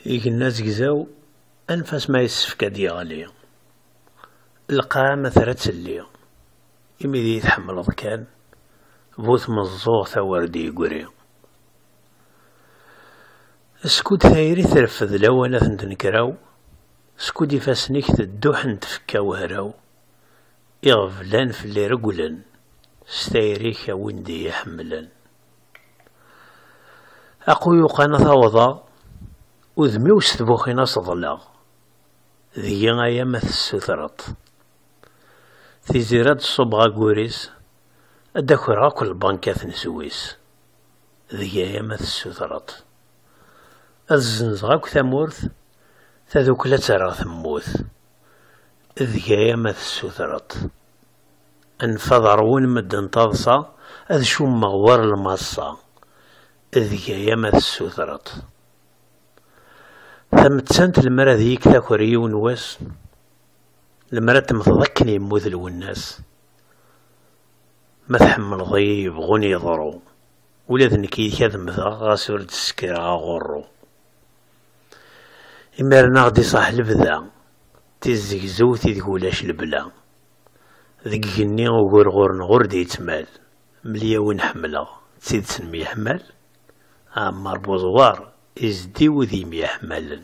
Igenni azegzaw anef-as ma yessefk ad d-yeɣli. Lqaɛa ma terra ad telli. Imi d iyi-tḥemmleḍ kan, bu tmeẓẓuɣt a wer d-yeggri. Skud tayri treffed lawan ad tenkraw. Skud ifassen-ik tedduḥen tfekka wehraw, iɣeblan fell-i regglen, s tayri-k a win d-iyi-iḥemmlen. Aquyuq-an ad t-awḍeɣ, udem-iw s tbuxin ad t-ḍleɣ, deg-i aya ma tessutreḍ-t. Tiziri ad d-ṣubbeɣ aggur-is, ad d-akreɣ akk lbankat n zwis. Deg aya ma tessutreḍ-t, ad zzenzeɣ akk tamurt, tadukla ad tt-rreɣ temmut. Deg aya ma tessutreḍ-t, anef ad ṛwun medden taḍsa, ad cummeɣ war lmaṣṣa. Deg aya ma tessutreḍ-t. Tamettant lemmer ad iyi-k taker yiwen wass, lemmer ad temmteḍ akken yemmut Lwennas. Ma tḥemmleḍ-iyi yebɣun yeḍru, ula d nekk yid-k ad mmteɣ ɣas ur d-ssekreɣ aɣurru. Imiren aɣ-d iṣaḥ lebda, tizzegzewt ideg ulac lebla. Deg igenni ugurɣur-nneɣ ur d-yettmal, mel-iyi win ḥemmleɣ, d tidet nemyeḥmal? Ɛemmar Buẓwar, izeddi wid yemyeḥmalen.